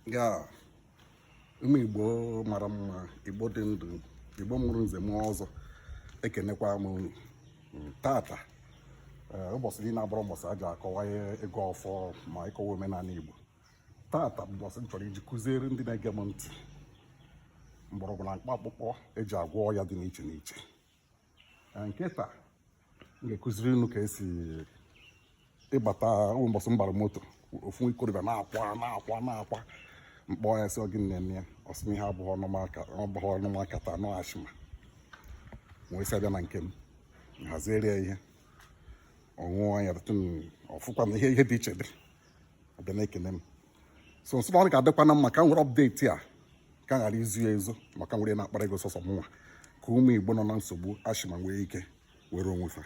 ya ụmụ igbo mara mma igbo dị ndụ igbo mụrụ nze mụọ ọzọ ekenekwa m unu tata eh, ụbọchị niile abụrọ ụbọchị a ji akọwa ịgọ ọfọ ma ịkọwa omenala igbo tata bụ ụbọchị m chọrọ iji kụziere ndị na-ege m ntị mgbọrọgwụ na mkpa akwụkwọ e ji agwọ ọya dị n'iche n'iche nke taa m ga-ekuziri unu ka e si ihe kpata wụ mbọsị m gbara moto ofu ikorobịa na-akwa na-akwa na-akwa m kpọọ ya sị ọ gịnị na-eme ya ọ sị m ihe a bụ ihe ọnụ ma-akata na ọ asthma m wee sị ya bịa na nke m m haziere ya ihe ọ ṅụọ ya ọ fụkwa na ihe ihe dị iche dị ya bịa na-ekene m so m sị ọ ga-adịkwana mma ka m were update a ka m ghara izo ya ezo maka m were na-akpara ego sọsọ mụnwa ka ụmụ igbo nọ na nsogbu asthma nwee ike nwere onwe fa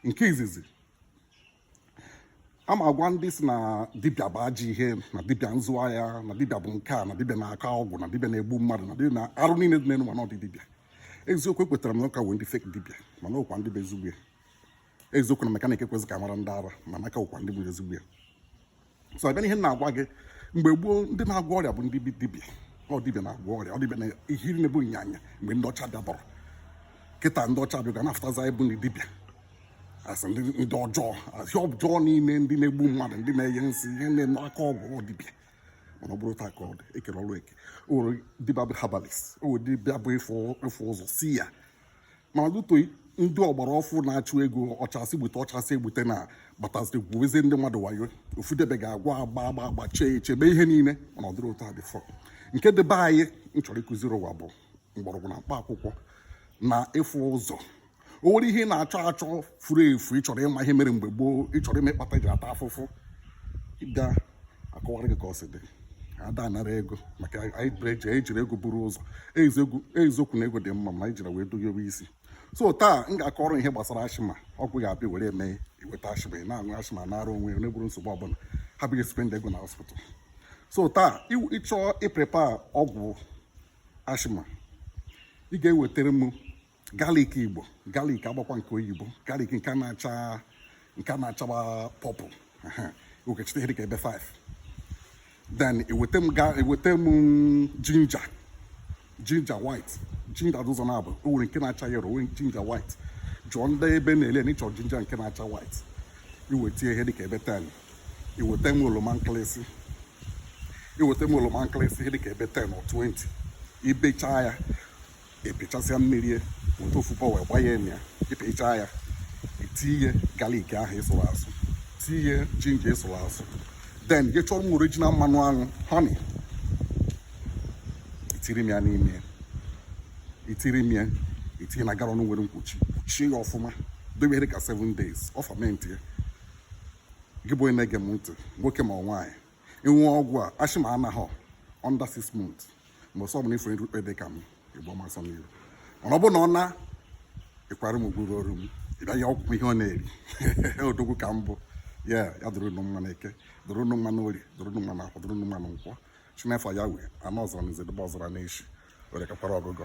nke izizi a ma agwa ndị sị na dibịa bụ ajọ ihe na dibịa nzụ ahịa na dibịa bụ nke a na dibịa na-akọ ọgwụ na dibịa na-egbu mmadụ na dibịa na arụ niile dị n'elu ụwa na ọ ndị dibịa eziokwu ekwetara m na ọ ka nwere ndị fake dibịa mana o nwekwa ndị bụ ezigbo ya eziokwu na mechanic ekwezi ka a mara ndị ara mana a ka nwekwa ndị bụ ezigbo ya so a bịa n'ihe m na-agwa gị mgbe gboo ndị na-agwọ ọrịa bụ ndị dibịa ọ dibịa na-agwọ ọrịa ọ dibịa na ihe iri na-ebu ịnyanya mgbe ndị ọcha abịaburọ kịta ndị ọcha bịa ga na-afụtaza ịbụ ndị dibịa asị ndị ọjọọ asị ọjọọ niile ndị na-egbu mmadụ ndị na-enye nsị ihe na-eme aka ọgwụ ọ dibịa mana ọ bụrọ otu a ka ọ dị e kere ọrụ eke o nwere dibịa bụ herbalist o nwere dibịa bụ ịfụ ụzọ seer mana due to ndị ọgbara ọfụụ na-achụ ego ọchasị gbute ọchasị egbute na bataziri gwuwezie ndị mmadụ wayo ofu dibịa ga-agwa agba agba agba chee echebe ihe niile mana ọ dịrọ otu a before nke dị be anyị m chọrọ ịkụziri ụwa bụ mgbọrọgwụ na mkpa akwụkwọ na ịfụ ụzọ o nwere ihe ị na-achọ achọ furu efu ị chọrọ ịma ihe mere mgbe gboo ị chọrọ ịma ihe kpata i ji ata afụfụ a kọwara gị ka o si dị ada anara ego maka anyị ejirọ ego buru ụzọ eziokwu na ego dị mma mana anyị ejirọ ya wee doghebe isi so taa m ga-akọrọ ihe gbasara asthma ọgwụ ga-abịa were eme i nweta asthma ị na-aṅụ asthma anaara onwe ya na-enwerọ nsogbu ọbụla ghara ịbịa spend ego na hospital so taa ị chọọ ịprepare ọgwụ asthma ị ga-ewetara m garlic igbo garlic agbakwa nke oyibo garlic nke na-acha nke na-achaba purple okechite ihe dịka ebe 5 then i weta m i weta m ginger ginger white ginger dị ụzọ naabọ o nwere nke na-acha yellow nwere ginger white jụọ ndị ebe na-ele na ị chọrọ ginger nke na-acha white i weta ihe dịka ebe 10 i weta m oroma nkịlịsị i weta m oroma nkịlịsị ihe dịka ebe 10 or 20 i bechaa ya ị pịchasịa mmiri weta ofu bowl wee gbanye ya ị pịchaa ya i tinye galik ahụ ị sụrụ asụ tinye jinja ị sụrụ asụ then gị chọrọ m original mmanụ aṅụ honey itiri m ya n'ime itiri m ya i tinye na galọn nwere mkpuchi kpuchie ya ọfụma dobe ihe dị ka 7 days ọ famentịa gị bụ onye na-ege m ntị nwoke ma nwaanyị ị ṅụọ ọgwụ a asthma anaghọ under six months mgbe ọsọ ọbụla ifere rukpe dị ka m ị gbụọ m asọ n'iru mana ọ bụ na ọ na ịkwara m gwuru ọrụ m ịbịaghị ọgwụ ihe ọ na-eri odogwu ka m bụ ya ya dụrụ nụ mma n'eke dụrụ nụ mma n'orie dụrụ nụ mma n'afọ dụrụ nụ mma na nkwọ chinefọ ya wee anụ ọzọ na izedebe ọzọra n'echi were kakwara ọgụgọ